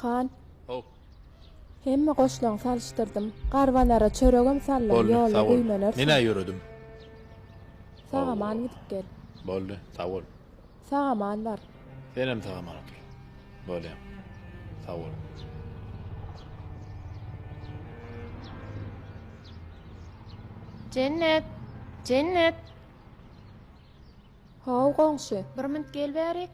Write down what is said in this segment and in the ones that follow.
Han. Haw. Hemme goşlaň salyşdyrdym. Garbanara çöregem saldym, Boldy, ýolda sag bol. güýmenersiň. Men-ä ýöredim. Sag-aman gidip gel. Boldy, sag bol. Sag-aman bar. Senem sag-aman otur. Bolýa. Sag bol. Jennet! Jennet! Haw, goňşy. Bir minut gel bärik.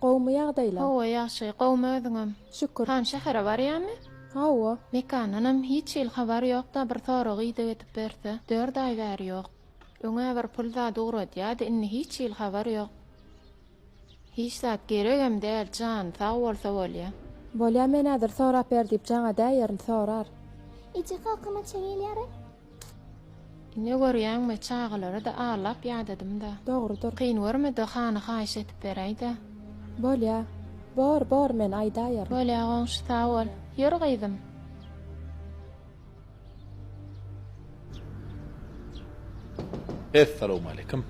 Gowmy ýagdaýlar? Hawa ýagşy, gowmy özüňem? Şükür. Han şähere barýamy? Hawa. Mekandanam hiç hili habar ýokda bir soragy ideg edip berse, dört aý bäri ýok. Öňä bir pul zady ugradýady indi hiç hili habar ýok. Hiç zat geregem däl jany sag bolsa bolýa. Bolýa men häzir sorap ber diýip jaňa däýerin sorar. Eje kakam aça gelýäre. Ine görýäňmi, çagalara-da alap ýadadym-da. Dogrudyr. Kyn görme-de, hany haýyş edip beräý-dä. Bolýa. Bor, bor, men aýdaýaryn. Bolýa, goňşy, sag bol. Ýör, gyzym. Essalowmaleýkim.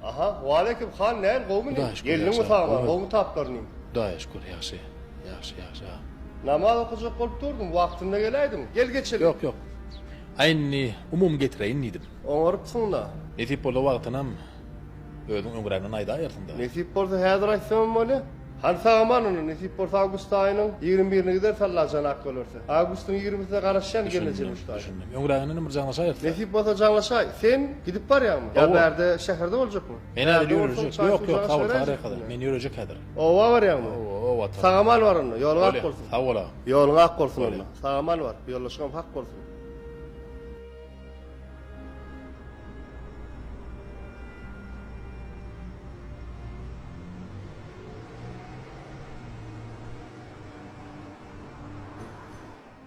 Aha Waleýkim hal näl gowmy ne geldiňmi saglan gowmy taplaryny. Hudaýa şükür ýagşy ýagşy ýagşy aga. Namaz okajak bolup durdum wagtynda geläýdiň gel geçeli. Ýok ýok a indi umumy getireýin diýdim. Oňarypsyň da. Nesip bolsa wagtynam özüň öňrägden aýdaýarsyň da. Nesip bolsa häzir aýtsamam bolýa. Hany sag-aman ony, nesip bolsa awgust aýynyň ýigrimi birine gideris Alla janap galarsa. Awgustyň ýigrimisine garaşýan gelne jemuşdaý. Düşündim, düşündim. Öňrägindem bir jaňlaşaýasy. Nesip bolsa jaňlaşaý. Sen gidip barýaňmy? Ýa bärde, şäherde boljakmy? Men häzir ýörejek. Ýok, ýok, sag bol Tarik aga. Men ýörejek häzir. Oba barýaňmy? Oba, oba ata. Sag-aman bar onda. Ýoluň ak bolsun. Sag bol agam. Ýoluň ak bolsun onda. Sag-aman bar. Ýoldaşyňam hak bolsun.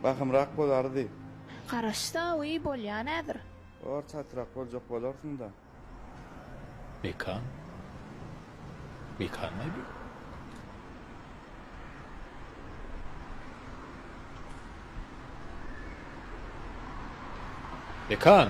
Bahymrak bolardy. Garaşsa, wiý bolýan häzir. Or çatyrak boljak bolarsyňda. Mekan? Mekan näme? Mekan?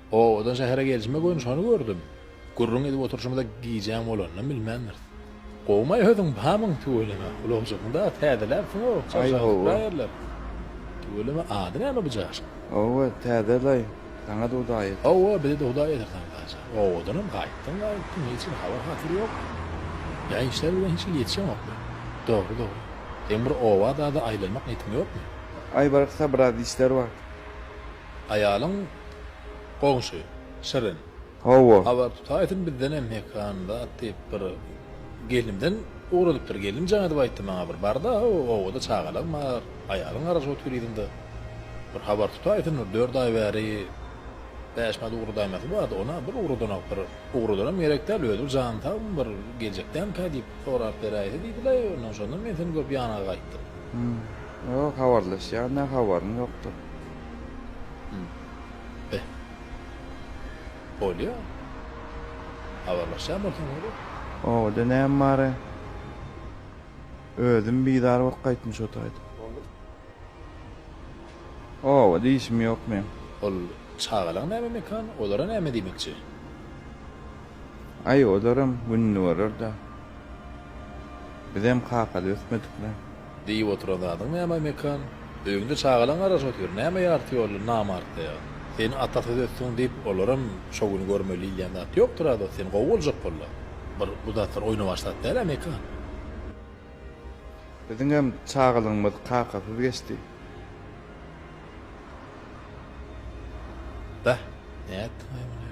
Obadan şähere gelşime göni şony gördüm. Gürrüň edip oturyşymyza gijäň bolanynam bilmändiris. Gowumaý özüň bamyň tüweleme, ulagjygyňda täzeläpsiň-ow, çagşaňlaşypdaýerler. Tüweleme, ady näme bu jaşyň? Owa, täze-laý. Saňa-da hudaý ýetirsin. Owa, bize-de hudaý ýetirsin, daýza. Obadanam gaýtdyň, gaýtdyň, hiç hili habar-hatyr ýok. Ýa işler bilen hiç hili ýetişeňokmy? Dogry, dogry. Seň bir oba-da-da aýlanmak niýetiň ýokmy? Aýbarykda biraz işler bar. Aýalyň goňşy, Şirin. Hawa. Habar tutaýsyn bizdenem Mekan zat diýip bir gelnimden ugradypdyr. Gelnim jaň edip aýtdy maňa bir bar-da o obada çagalaň bar, aýalyň garaşyp otyr yzyňda. Bir habar tutaýsyn bir dört aý bäri bäş manat ugradaýmasy bardy, onam bir ugradanok bir ugradanam gerek däl özüm janym sagmy bir geljekdämkä diýip sorap beräýse diýdiler, ondan şondan men seni görüp ýanyňa gaýtdym. Ýok habarlaşýan-a habaryň ýokdur. Be. Bolýa. Habarlaşýan bolsaň bolýa. Obada näme bar-a? Özüm bizar bolup gaýtmyş otaýdym. Boldy. Obada işim ýok meň. Ol çagalaň näme mekan, olara näme diýmekçi? Aý, olaram gününi görer-dä. Bizem kakaly ösmedikmi? Diýip oturan zadyň näme Mekan? Öýüňde çagalaň garaşyp otyr, näme ýarty ýolly namartlaýar. Seni atasyz ötdüň diýip olaram şo güni görmeli diýilýän zat ýokdur-a dost, sen gowy boljak bolla. Bir bu zatlar oýnawaç zat däl-ä Mekan. Biziňem çagalygymyz kakasyz geçdi. Bäh, nätdiň-aý muny?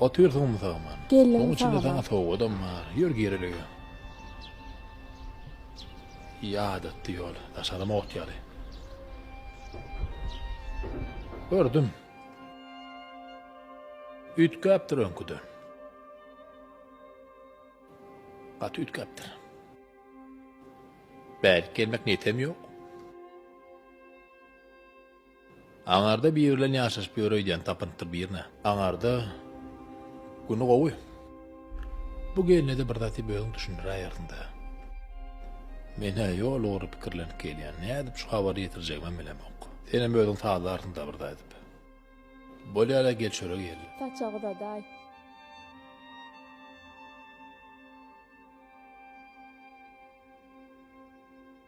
Otyrsyňmy Sagman? Geldim, Sagman. Soň içinde saňa sowgadam bar. Ýör gir ölige. Ýa adatda ýol. Daşaram ot ýaly. Gördüm. Üýtgäpdir öňküden. Gaty üýtgäpdir. Bärik gelmek niýetem ýok. Aňarda biri bilen ýaşaşyp ýör öýdýän tapynypdyr birine. Aňarda güni gowy. Bu gelnede bir zat diýip özüň düşündiräýersiňdä. Men-ä ýol ugry pikirlenip gelýän. Nädip şu habary ýetirjegimem bilemok. Senem özüň sazlarsyňda bir zat edip. Bolýar-a gel çörek iýeli. Saçak uzadaý.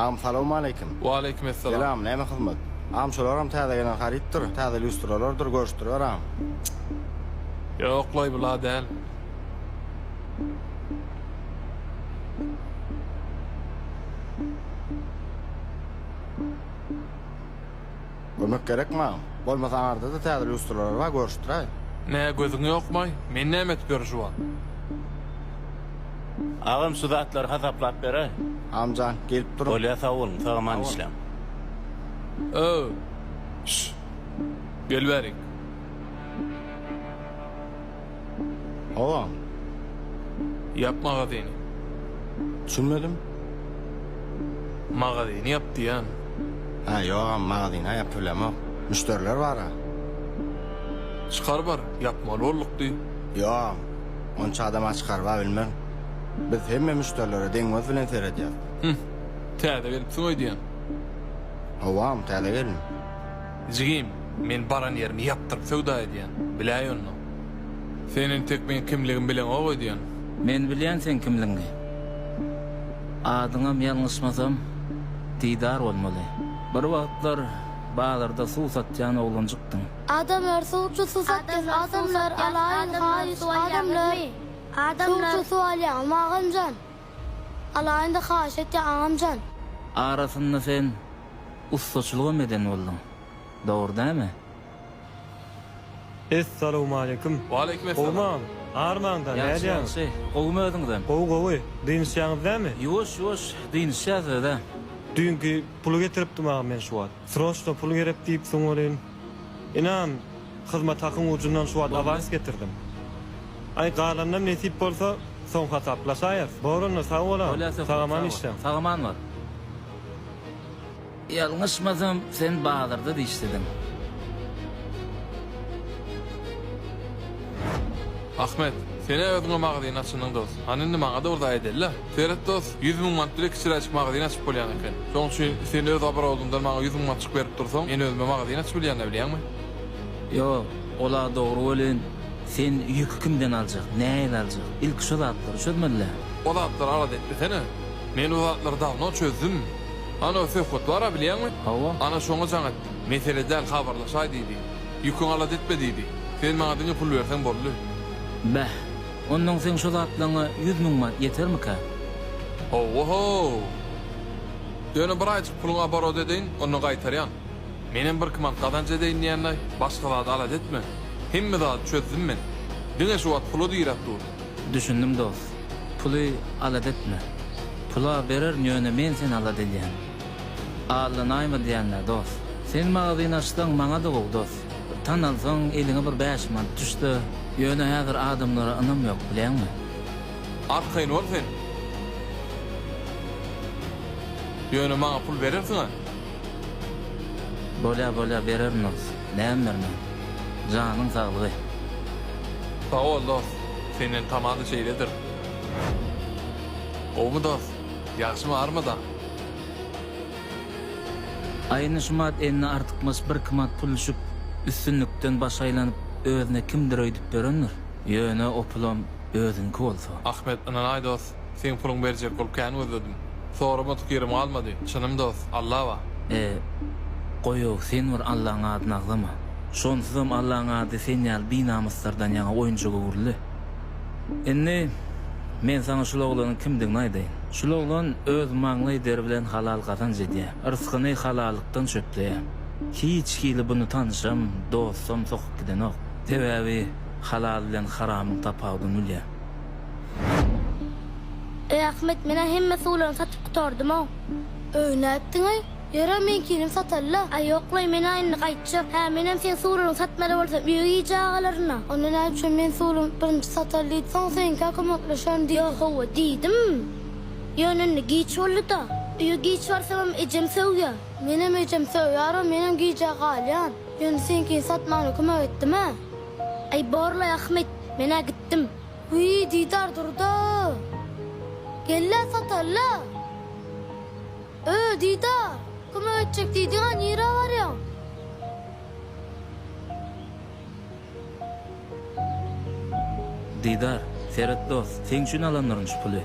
Agam salawmaleýkim. Waleýkim essalam. Selam, näme hyzmat? Agam şolaram täze gelen harytdyr, täze lýustralardyr görüşdiriber agam. Ýok laý bula däl. Kömek gerek maňa. Bolmasa aňarda-da täze lýustralar bar, görüşdiräý. Nä, gözüň ýokmaý? Men näme edip görüşibem? Agam, şu zatlary hasaplap beräý. Agam jan, gelip duruň. Bolýa, sag boluň, sag-aman işläň. Öw, şş, gel bärik. Hawa. Ýap magazyny. Düşünmedim. Magazyny ýap diýýän. Hä, ýogam, magazyny-a ýapyp bilemok. Müşderiler bar-a. Çykar bar, ýapmaly bolduk diý. Ýok. Onça adam-a çykaryb-a bilmer. Biz hemme müşderilere deň göz bilen seredýäs. Hüh. Täze gelipsiň öýdýän. Hawam, täze gelin. Jigim, men baran ýerimi ýapdyryp söwda edýän. Biläý onda. Sen entek meň kimligimi bileňok öýdýän. Men bilýän seň kimligiňi. Adyňam ýalňyşmasam, Didar bolmaly. Bir wagtlar bazarda suw satýan oglanjykdyň. Adamlar suwçy suw satýan adamlar alaýyn haýyş adamlar suwçy suw alýan magamjan. Alaýynda haýyş etýän agam jan. Arasynda sen ussaçylygam eden bolduň. Dogry dämi? Es salowmaleýkim. Waleýkim es salam. Gowymam. Armaňda nädýäňiz? Ýagşy ýagşy. Gowumy özüňizem? Gowy gowy. Dynysýaňyz dämi? Ýuwaş ýuwaş dynysýas özä. Düýnki puly getiripdim agam men şu wagt. Sroçno pul gerek diýipsiň welin. Ynam, hyzmat hakyň ujundan şu wagt awans getirdim. Aý, galanynam nesip bolsa, soň hasaplaşaýas. Bor onda, sag bol a. Sag-aman işläň. Sag-aman bol. Ýalňyşmasam, sen bazarda dişlidiň. Ahmet, sen-ä özüňe magazyn açandyň dos. Hany indi maňa-da bir zat edeli-le. Seret dos, ýüz müň manat bilen kiçiräjik magazyn açyp bolýan eken. Şoň üçin sen öz abrawyňdan maňa ýüz müň manatjyk berip dursaň, men özüme magazyn açyp bilýän-dä, bilýäňmi? Ýok, ol-a dogry welin, sen ýüki kimden aljak, nähili aljak? Ilki şo zatlary çözmeli-dä. O zatlary alada etmesene. Men o zatlary dawno çözdüm. Ana, söhbet bar-a, bilýäňmi? Hawa. Ana, şoňa jaň etdim. Mesele däl, habarlaşaý diýdi. Ýüküňi alada etme diýdi. Sen maňa diňe pul berseň boldy. Bäh, Onnoň seň şo zatlaňňa ýüz müň man ýetermikä? Ho-wo-ho-w! Ýöne bir aýjyk puluňy oborot edeýin, onda gaýtarýan. Menem birki man gazanç edeýin diýende, başga zady alada etme. Hemme zady çözdüm men. Diňe şu wagt pula dirap dur. Düşündim dost. Puly alada etme. Pul-a bererin, ýöne men seni alada edýän. Allanaýym edýän-dä, dost. Sen magazyn açsaň, maňa-da gowy, dost. Tanalsaň, eliňe bir bäş manat düşse, ýöne häzir adamlara ynam ýok, bilýäňmi? Arkaýyn bol sen. Ýöne maňa pul berersiň-ä? Bolýar, bolýar, bererin dost. Näme bermeli? Janyň saglygy. Sag bol, dost. Senden tamada şeýledir. Gowumy, dost? Ýagşymy, armydan? Aýna şumat eline artykmaç bir kimat pul düşüp, üstünlikden baş aýlanyp, özüne kimdir öýdüp berendir. Ýöne o pulam özüňki bolsa. Ahmet, ynanaý dost, seň puluň berjek bolup kän gözledim. Soramadyk ýerim galmady. Çynym dost, Alla bar. E, goýog, sen bir Allaň adyny agzama. Şonsuzam Allaň ady sen ýaly binamyslardan ýaňa oýunjyk öwrüldi. Indi, men saňa şul oglanyň kimdigini aýdaýyn. Şul oglan öz maňlaý deri bilen halal gazanç edýär, yrsgyny halallykdan çöpleýär. Hiç hili buny tanyşam, dostam sokup gidenok. Sebäbi halal bilen haramyň tapawudyny bilýär. Eý, Ahmet, men-ä hemme suwlaryňy satyp gutardym-ow. Öý, nätdiň-eý? Ýöre meňkinem satally-la. Aý, ýok-laý, men-ä indi gaýtjak. Hä, menem seň suwlugyňy satmaly bolsam, öýe gijä galaryn-a. Onda näme üçin men suwlugymy birinji sataly diýip, soň seňkä kömekleşerin diýdim. Ýa hawa, diýdim. Ýöne indi giç boldy-da. Öýe giç barsamam ejem sögýär. Menem ejem sögýär-ä, menem gijä galýan. Ýöne seňkini satmagyna kömek etdim-ä. Aý, bor-laý, Ahmet, men-ä gitdim. Wiý, Didar, dur-da. Gel-ä, sataly-la. Öý, Dida! Kömek etjek diýdiň-ä, nirä barýaň? Didar, Seret dost, seň üçin alandyryn şu puly.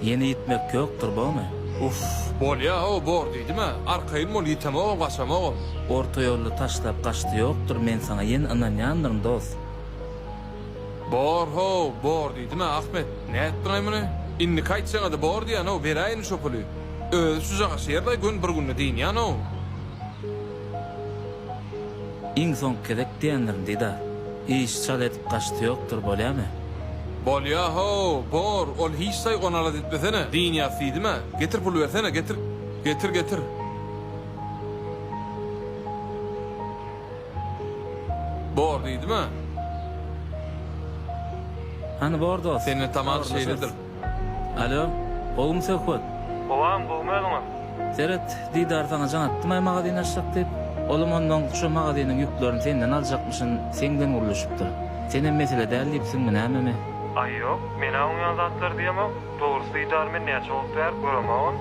Ýene ýitmek ýokdur, bomy? Uff, bolýa-ow, bor diýdim-ä. Arkaýyn bol, ýitemogam, gaçamogam. Orta ýolda taşlap gaçdy ýokdur, men saňa ýene ynanýandyryn, dost. Bor-how, bor diýdim-ä, Ahmet. Nätdiň-aý muny? Indiki aýtsaňyz-da bor diýýän-ow, beräýeni şo puly. Özi şujagaz şerlaý gön bir günde dynýan-ow. Iň soňky gezek diýendirin, Didar. Işi çal edip gaşty ýokdur, bolýamy? Bolýa-how, bor, ol hiç-zaý on alada etmesene, dynýas diýdim-ä. Getir puly bersene, getir. Getir, getir. Bor diýdimä. Hany bor dos. Senden tamam şeýledir. Alo, gowumy Söhbet? Gowam, gowumy özüňem? Seret, Didar saňa jaň atdymaý magazin açjak diýip. Olam onnoň şo magaziniň ýüklerini senden aljakmyşyn, seňden gürleşipdir. Senem mesele däl diýipsiňmi nämemi? Aý ýok, men-ä oň ýaly zatlary diýemok. Dogrusy Didar men näçe wagt bäri göremogyn.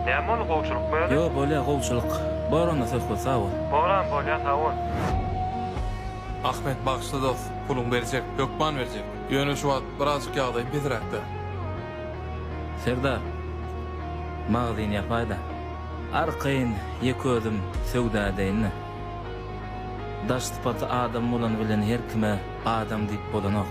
Näme boldy gowçylykmy ýöne. Ýo bolýa gowçylyk. Boranda söhbet sag bol. Boran bolýa sag bol. Ahmet bagyşla dos puluň berjek hökman berjek ýöne şu wagt birazjyk ýagdaýym pesiräkde. Serdar. Magazyn ýapaýda. Arkaýyn ýeke özüm söwda edeýinle. Daş sypaty adam bolany bilen her kime adam diýip bolanok.